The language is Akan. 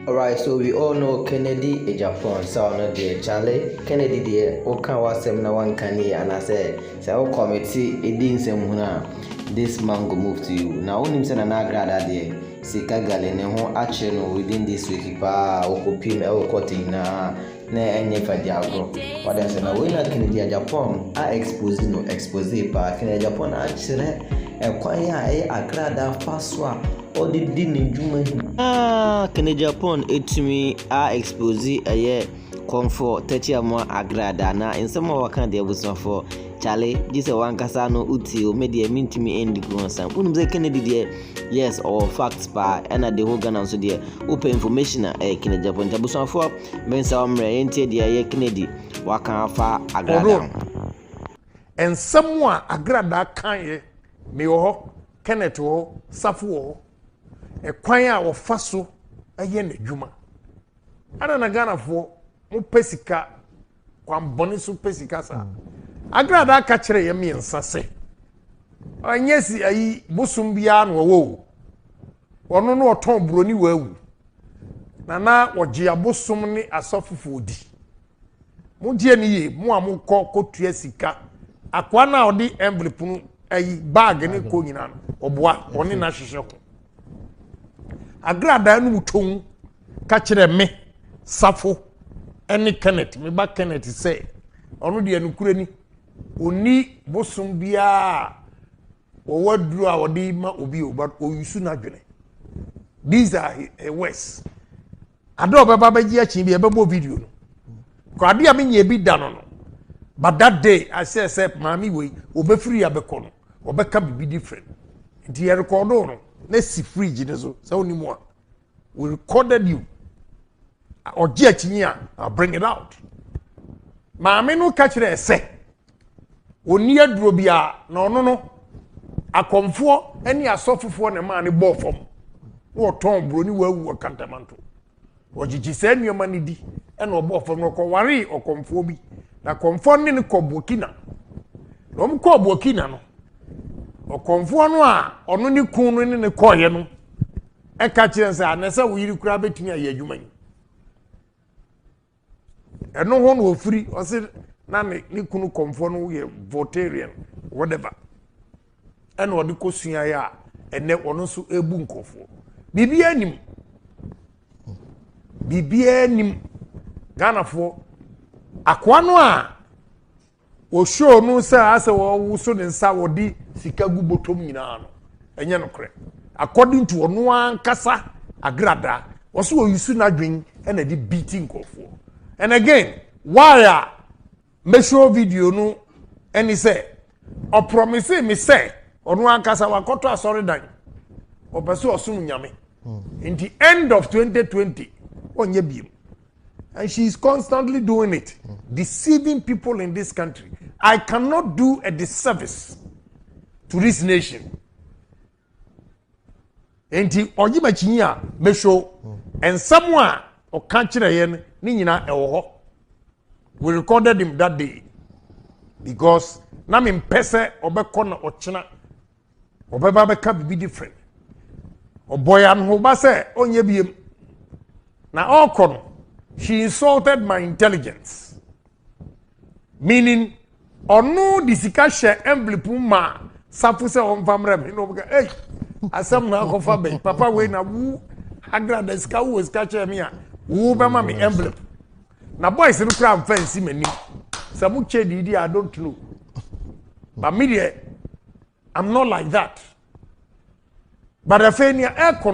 Alright, so we all know Kennedy Ejapon sɛ ɔno deɛ Charlie Kennedy deɛ woka w'asɛm na wanka ni anaasɛ sɛ wo kɔmete di nsɛm hunu a this man go move to you na wonim sɛ Nana Agradaa deɛ Sika gale ne ho akyere no within this week paa ɔkɔ piem ɛwɔ court nyinaa na ɛnyɛ fagye agorɔ wade ase na wei na Kennedy Agyapong a expose no expose paa Kennedy Agyapong akyerɛ ɛkwan a ɛyɛ akrada fa so a ɔde di ne dwuma nyinaa Kennedy Agyapong ɛtumi a expose ɛyɛ kɔmfoɔ tɛkyi amoa agrada na nsɛm a wɔka deɛ abusuafoɔ kyale gye sɛ wankasa no wotie o me deɛ mentumi ɛndi guo nsɛm wonim sɛ Kennedy deɛ Yes ɔwɔ facts paa ɛna the whole Ghana nso deɛ wopɛ information a ɛyɛ Kennedy Aponte abusuafoɔ mensa wɔn mmerɛ yɛntie deɛ ɛyɛ Kennedy waka afa agradaa ho. Nsɛm a agradaa kaeɛ mewɔ hɔ Kenneth wɔ hɔ Safo wɔ hɔ ɛkwan a wɔfa so yɛ n'adwuma. Adɛn na Ghanafoɔ mopɛ sika kwammɔne so pɛ sika saa agradaa ka kyerɛ yɛ mmiɛnsa sɛ ɛnyɛ si ayi bosom biara na ɔwɔ o ɔno no ɔtɔn buroni wɔ awu na na ɔgye abosom ne asɔfofoɔ di mogye ne yie mo a mokɔ kɔtua sika akoa no a ɔde envelope no ayi bag ne kɔ nyinaa no ɔboa ɔne no ahyehyɛ ho agradaa no mu twom ka kyerɛ me safo ne kenneth me ba kenneth sɛ ɔno deɛ nokorɛ ni ɔni bosom biara a wɔwɔ aduro a wɔde ma obi o but ɔyusu n'adwene these are her words ade a ɔbɛba bɛgye akyi bi ɛbɛbɔ video no kɔ ade a menyɛ bi da no no but that day i say sɛ maame wei ɔbɛfiri abɛkɔ no ɔbɛka biribi different nti yɛrekɔdo no na si fridge no so sɛ wonim a We recorded you. Ɔgye akyi a, I'll bring it out. Maame no ka kyerɛ sɛ, ɔnni aduro biara na ɔno no, akɔmfoɔ ne asɔfofoɔ na ɛmaa no bɔɔ fam. Na ɔtɔn buroni wawu wɔ kantamanto. Ɔgyegye saa nneɛma no di na ɔbɔɔ fam no ɔkɔwaree ɔkɔmfoɔ bi. Na kɔmfoɔ ne no kɔ Burkina. Na wɔn kɔɔ Burkina no, ɔkɔmfoɔ no a ɔno ne kun no ne no kɔɔeɛ no, ɛka kyerɛ no sɛ anɛ sɛ wo yere koraa bɛtumi ayɛ adwuma yi ɛno ho na ɔfiri ɔse na ne ne kunu kɔmfoɔ no yɛ voltarian whatever ɛna ɔde kɔ suaeɛ a ɛnɛ ɔno nso ɛbu nkɔfoɔ biribiara nim biribiara nim ghanafoɔ akoa no a Wɔ show no sɛ asɛ ɔwoso ne nsa a ɔde sika gu bɔtɔm nyinaa no ɛnyɛ nokorɛ according to ɔno ankasa Agrada wɔso ɔyusu n'adwen ɛna ɛde beat nkorɔfoɔ and again why a mɛ show video no ɛne sɛ ɔpromise me sɛ ɔno ankasa wakɔtɔ asɔredan ɔpɛ sɛ ɔsom nyame nti end of 2020 ɔnyɛ biem And she is constantly doing it, deceiving people in this country. I cannot do a disservice to this nation. Nti ɔyi ma kyi a mehwɛ nsɛm a ɔka kyerɛ yɛn ne nyinaa ɛwɔ hɔ. We recorded him that day because na me mpɛ sɛ ɔbɛkɔ na ɔkyena ɔbɛba bɛka biribi different ɔbɔ yɛ anohoba sɛ ɔnyɛ biem na ɔkɔ no she insulted my intelligence meaning ɔno de sika hyɛ envelope mu ma safo sɛ ɔmfa mmerɛ me na ɔbɛka ei asɛm na akɔfa bɛn papa wei na wu agra da sika wowɔ sika kyerɛ me a wo bɛma me envelope na boys no kura nfa nsi m'anim sɛ mo kyɛ di di i don't know but me deɛ i'm not like that but afei nea ɛkɔ